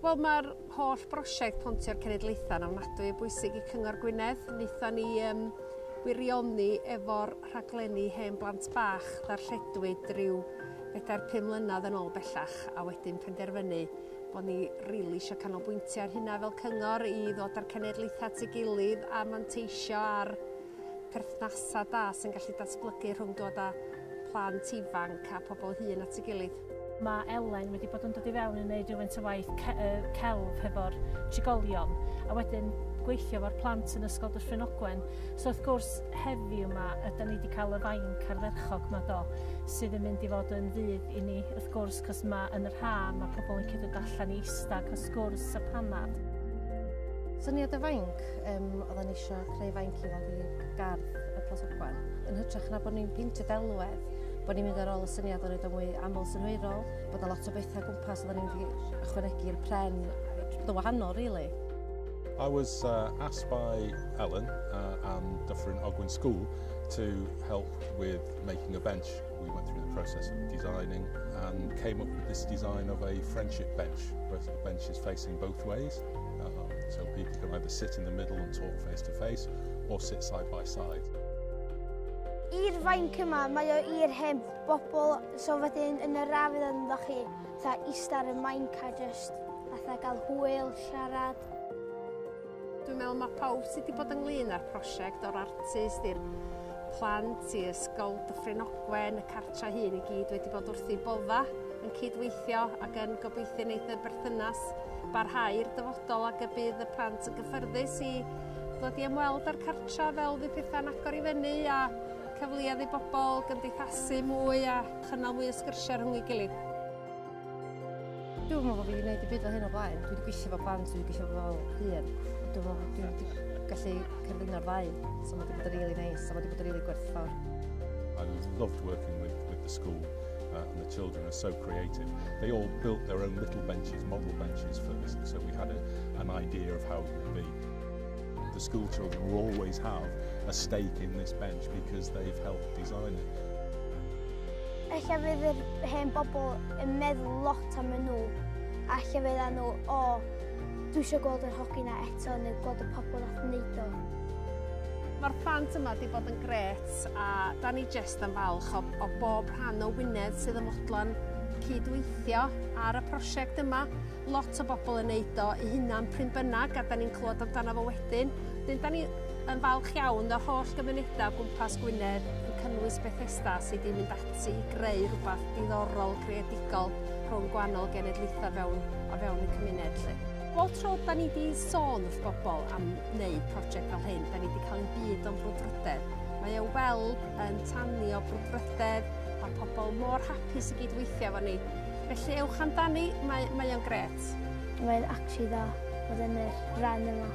Wel mae'r holl brosiect Pontio'r Cenedlaethau yn ofnadwy o bwysig i Cyngor Gwynedd. Wnaethon ni um, wirioni efo'r rhaglenni hen blant bach ddarlledwyd rhyw bedair pum mlynedd yn ôl bellach a wedyn penderfynu bod ni rili really eisiau canolbwyntio ar hynna fel cyngor i ddod â'r cenedlaethau at ei gilydd a manteisio ar perthnasau da sy'n gallu datblygu rhwng dod â plant ifanc a phobl hŷn at ei gilydd. Mae Elen wedi bod yn dod i fewn i wneud rhywfaint o waith celf hefo'r trigolion a wedyn gweithio efo'r plant yn Ysgol Dyffryn Ogwen. So wrth gwrs heddiw yma yda ni wedi cael y fainc ardderchog yma do sydd yn mynd i fod yn fydd i ni wrth gwrs cos mae yn yr ha mae pobl yn gallu dod allan i eistedd cael sgwrs a panad. Syniad y fainc ac um, oedden ni eisiau creu fainc i weld i gardd y Plas Ogwen. Yn hytrach na bod ni'n peintio delwedd, bod ni'n mynd ar ôl y syniad o wneud o'n fwy aml synhwyrol, bod yna lot o bethau gwmpas oedden ni'n mynd i ychwanegu'r pren, dy wahanol, really. I was uh, asked by Ellen uh, and Dufferin Ogwyn School to help with making a bench. We went through the process of designing and came up with this design of a friendship bench, where the bench is facing both ways. Um, so people can either sit in the middle and talk face to face or sit side by side. I'r fainc yma, mae o i'r hen bobl, so wedyn yn yr afydd yn dda chi, tha eista ar y mainc a just fatha gael hwyl, siarad. Dwi'n meddwl mae pawb sydd wedi bod ynglyn â'r prosiect o'r artist i'r plant i ysgol Dyffryn Ogwen, y cartra hun i gyd wedi bod wrth ei bodda yn cydweithio ac yn gobeithio wneud y berthynas barhau i'r dyfodol ac y bydd y plant yn gyffyrddus i ddod i ymweld â'r cartra fel fydd pethau'n agor i fyny a cyfleoedd i bobl gymdeithasu mwy a chynnal mwy o sgyrsiau rhwng ei gilydd. Dwi'n meddwl bod fi wedi gwneud y byd fel hyn o blaen. Dwi wedi gweithio fel plant, dwi wedi gweithio fel hyn. Dwi'n meddwl bod dwi wedi gallu cyrddino'r ddau. So mae wedi bod yn really nice, so mae wedi bod yn really gwerthfawr. I loved working with, with the school. uh, and the children are so creative. They all built their own little benches, model benches for this, so we had a, an idea of how it would be. The school children will always have a stake in this bench because they've helped design it. Ella fydd yr hen bobl yn meddwl lot am nhw, a lle fydd nhw, o, dwi eisiau gweld yr hogi na eto, neu gweld y pobl nath wneud o. Mae'r plant yma wedi bod yn gret a da ni jyst jyst yn falch o, o bob rhan o Wynedd sydd yn fodlon cydweithio ar y prosiect yma. Lot o bobl yn neud o i hunan pryn bynnag a da ni'n clywed amdano fo wedyn. Dyn da ni yn falch iawn o'r holl gymunedau gwmpas Gwynedd yn cynnwys Bethesda sydd wedi mynd ati i greu rhywbeth diddorol creadigol rhwng gwahanol genedlaethau fewn, o fewn y cymuned. Lle. Bob tro da ni wedi sôn wrth bobl am wneud prosiect fel hyn, da ni wedi cael ein byd o'n brwdfrydedd. Mae ei weld yn tanio brwdfrydedd, mae pobl mor hapus i gyd-weithio efo ni. Felly ewch amdani, mae, mae o'n gret. Mae'n actually dda bod yn yr ran yma.